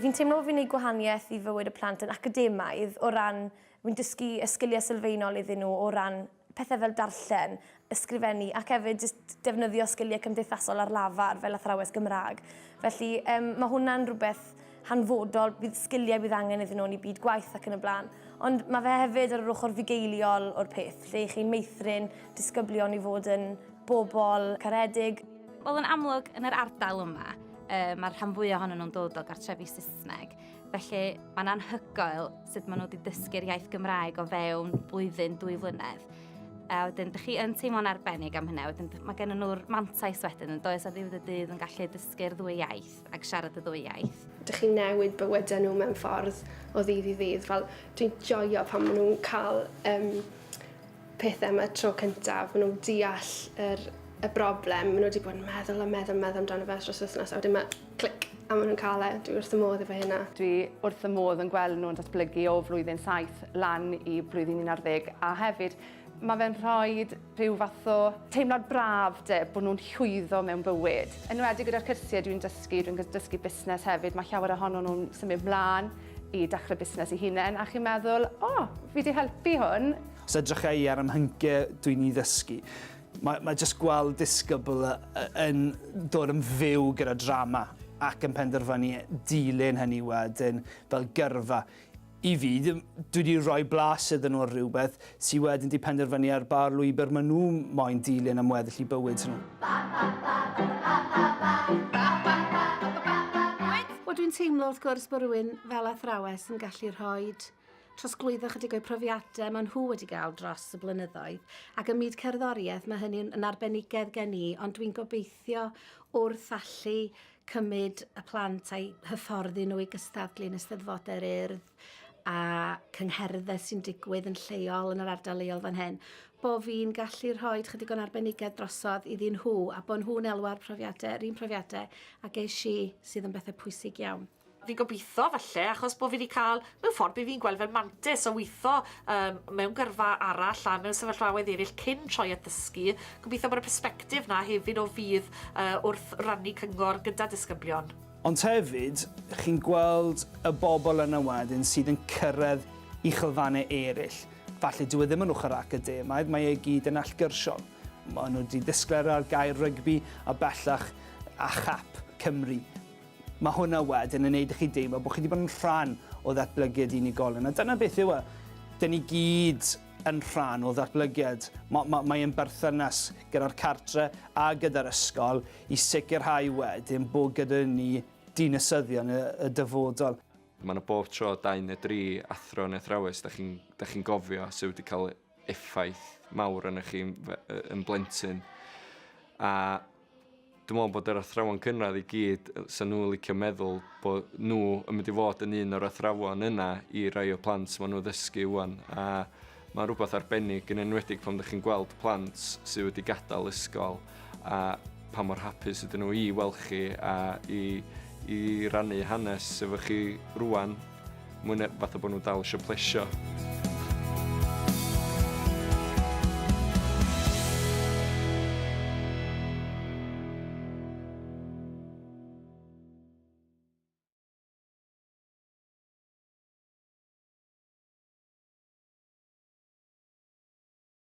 Fi'n teimlo bod fi'n neud gwahanieth i fywyd y plant yn academaidd o ran fi'n dysgu y sgilie sylfaenol iddyn nhw o ran pethau fel darllen, ysgrifennu ac hefyd jyst defnyddio sgiliau cymdeithasol ar lafar fel athrawes Gymraeg. Felly um, mae hwnna'n rhywbeth hanfodol, bydd sgiliau bydd angen iddyn nhw yn ei byd gwaith ac yn y blaen. Ond mae fe hefyd ar yr ochr fugeiliol o'r peth, lle i chi meithrin disgyblion i fod yn bobl caredig. Wel, yn amlwg, yn yr ardal yma, uh, mae'r rhan fwyaf ohonyn nhw'n dod o gartrefi Saesneg. Felly, mae'n anhygoel sut maen nhw wedi dysgu'r iaith Gymraeg o fewn blwyddyn, dwy flynedd. A wedyn, dych chi yn teimlo'n arbennig am hynna. Wedyn, mae gen nhw'r mantais wedyn yn does a ddiwedd y dydd yn gallu dysgu'r ddwy iaith ac siarad y ddwy iaith. Dych chi'n newid bywydau nhw mewn ffordd o ddydd i ddydd. Fel, dwi'n joio pan maen nhw'n cael um, pethau yma tro cyntaf. Maen nhw'n deall yr, y broblem. Maen nhw wedi bod yn meddwl a meddwl a meddwl amdano fe dros wythnos. A wedyn mae Clic. A maen nhw'n cael e. Dwi wrth y modd efo hynna. Dwi wrth y modd yn gweld nhw'n datblygu o flwyddyn saith lan i blwyddyn un ar ddeg a hefyd mae fe'n rhoi rhyw fath o teimlad braf de, bod nhw'n llwyddo mewn bywyd. Yn wedi gyda'r cyrsiau dwi'n dysgu, dwi'n dysgu busnes hefyd, mae llawer ohono nhw'n symud mlaen i dechrau busnes i hunain a chi'n meddwl, o, fi wedi helpu hwn. Os edrycha i ar 'y mhyncie dwi'n i ddysgu, Mae, mae jyst gweld disgybl yn dod yn fyw gyda drama ac yn penderfynu dilyn hynny wedyn fel gyrfa. I fi, dwi wedi rhoi blas iddyn nhw ar rhywbeth sy'n wedyn wedi penderfynu ar ba lwybr maen nhw moyn dilyn am weddill i bywyd nhw. Wel, dwi'n teimlo wrth gwrs bod rhywun fel athrawes yn gallu rhoi trosglwyddo ychydig o'u profiadau maen nhw wedi gael dros y blynyddoedd ac ym myd cerddoriaeth mae hynny'n yn arbenigedd gen i ond dwi'n gobeithio wrth allu cymryd y plant a'i hyfforddi nhw i gystadlu yn yr Urdd a cyngherddau sy'n digwydd yn lleol yn yr ardal leol fan hyn, bo fi'n gallu rhoi chydig o'n arbenigedd drosodd iddyn nhw a bod nhw'n elwa'r profiadau, yr un profiadau a geis i sydd yn bethau pwysig iawn. Fi'n gobeithio, falle, achos bod fi wedi cael, mewn ffordd, be fi'n gweld fel mantis o weithio um, mewn gyrfa arall a mewn sefyllfaoedd eraill cyn troi at ddysgu. Gobeithio bod y persbectif na hefyd o fydd uh, wrth rannu cyngor gyda disgyblion. Ond hefyd, chi'n gweld y bobl yna wedyn sydd yn cyrraedd i chylfannau eraill. Falle dyw e ddim yn ochr academaidd, mae e gyd yn allgyrsiol. Mae nhw wedi ddisglair ar gair rygbi a bellach a chap Cymru. Mae hwnna wedyn yn neud i chi deimlo bod chi 'di bod yn rhan o ddatblygiad unigolyn, a dyna beth yw e. Dyn ni gyd yn rhan o ddatblygiad. Ma- ma- mae ein berthynas gyda'r cartre a gyda'r ysgol i sicrhau wedyn bod gyda ni dinasyddion y, y dyfodol. Mae 'na bob tro dau neu dri athro neu athrawes da chi'n da chi'n gofio sy' wedi cael effaith mawr arnoch chi yn blentyn. A dwi'n meddwl bod yr athrawon cynradd i gyd, sy'n nhw'n licio meddwl bod nhw yn mynd i fod yn un o'r athrawon yna i rai o plant maen nhw ddysgu wwan. A mae'n rhywbeth arbennig yn enwedig pan ydych chi'n gweld plant sydd wedi gadael ysgol a pa mor hapus ydyn nhw i weld chi a i, i rannu hanes efo chi rwan, mwy na fath o bod nhw'n dal eisiau plesio.